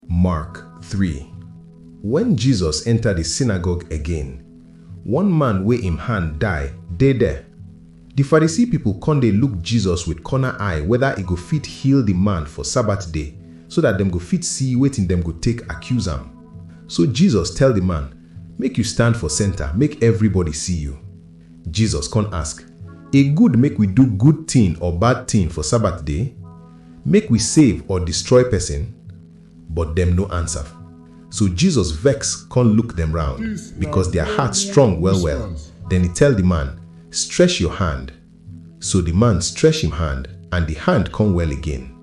Mark three Wen Jesus enta di synagogue again, one man wey im hand die dey der. Di Pharisee pipol kon dey look Jesus with corner eye weda e go fit heal di man for Sabbath day so dat dem go fit see wetin dem go take accuse am. So Jesus tell di man, Make yu stand for center make evribody see yu. Jesus kon ask, E good make we do good tin or bad tin for Sabat day? Make we save or distroy pesin? But dem no ansav. So Jesus vex kon luk dem round, bikos dia heart strong well-well. Den e tell di man, Stresh yor hand. So di man stresh im hand and di hand kon well again.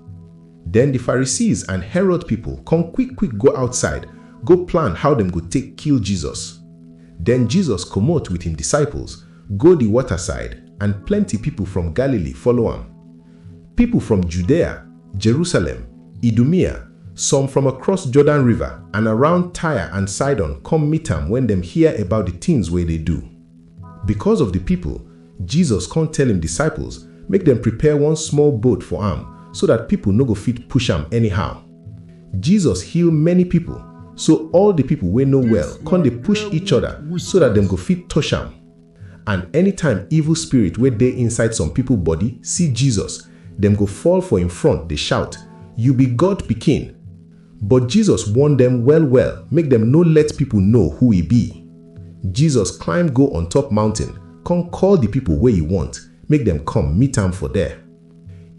Den di Pharisees and Herod pipol kon kwik-kwik go outside go plan how dem go take kill Jesus. Den Jesus komot with im disciples go di water-side and plenty pipol from Galilee follow am. Pipol from Judea, Jerusalem, Idumea, some from across Jordan River and around Tyre and Sidon kom meet am wen dem hear about di tins wey e dey do. Bikos of di pipol, Jisos kon tell im disciples make dem prepare one small boat for am so dat pipol no go fit push am anyhow. Jisos heal many pipol, so all di pipol wey no well kon dey push each oda so dat dem go fit tosh am. And anytime evil spirit wey dey inside some pipol body si Jisos, dem go fall for im front dey shout, Yu bi God Pikin! But Jesus warn dem well-well make dem no let pipo know who e be. Jesus climb go on top mountain con call di pipo wey e want make dem come meet am for there.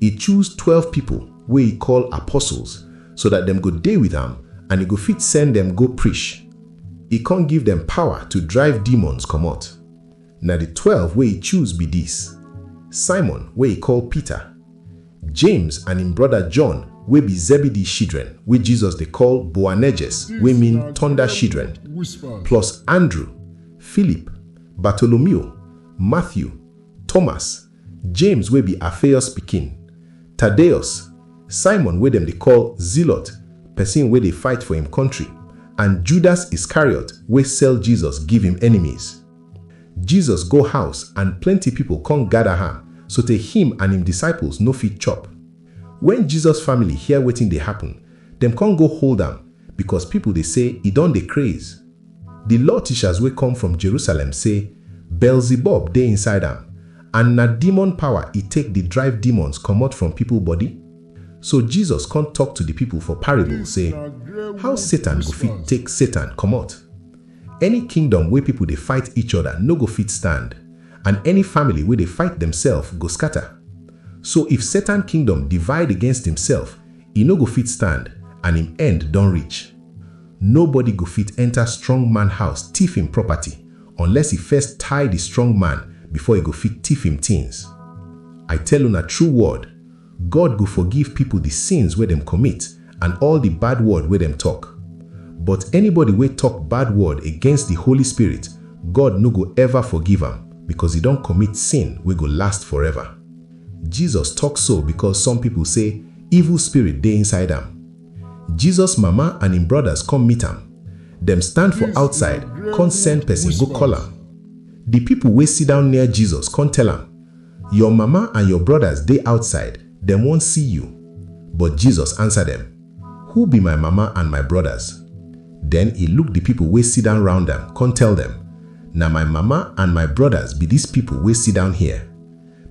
E choose twelve pipo wey e call apostles so dat dem go dey with am and e go fit send dem go prish. E con give dem power to drive demons comot. Na di twelve wey e choose be dis, Simon wey e call Peter, James and im broda John wey be Zebedee shidren wey Jesus dey call Boanerges wey mean Tonda shidren, plus Andrew, Philip, Bartolomeo, Matthew, Thomas, James wey be Alphaeus pikin, Tadeus, Simon wey dem dey call Zealot, pesin wey dey fight for im kontri, and Judas Iscariot wey sell Jesus give im enemies. Jesus go house and plenty pipo kon gada ham sotey him and him disciples no fit chop. Wen Jesus family hear wetin dey happen, dem kon go hold am bikos pipo dey sey e don dey kraiz. Di law tishas wey kom from Jerusalem sey Beelzebub dey inside am and na demon pawa e take di drive demons komot from pipo body. So Jesus kon tok to di pipo for parable sey, How Satan go fit take Satan komot? Any kingdom wey pipo dey fight each oda no go fit stand, and any family wey dey fight demsef go scata. So if Satan kingdom divide against imsef, e no go fit stand, and im end don reach. Nobody go fit enta strong man house tiff im property, unless e first tie di strong man before e go fit tiff im tins. I tell una true word, God go forgive pipo di sins wey dem commit and all di bad word wey dem tok. But anybody wey tok bad word against di Holy Spirit, God no go ever forgive am becos e don commit sin wey go last forever. Jesus tok so becos some pipo say evil spirit dey inside am. Jesus mama and im brodas come meet am. Dem stand for outside, come send pesin go call am. Di pipo wey siddown near Jesus come tell am, Your mama and your brodas dey outside, dem wan see you. But Jesus ansa dem, Who be my mama and my brodas? Den e look di pipol wey sidan round am kon tell dem, Na my mama and my brodas be dis pipol wey sidan here.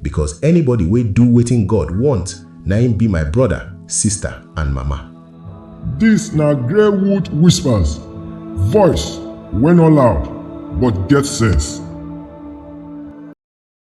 Bikos anybody wey du wetin God wont, na im bi my broda, sista and mama. Dis na Greywood Whispers, voice wey no loud but get sense.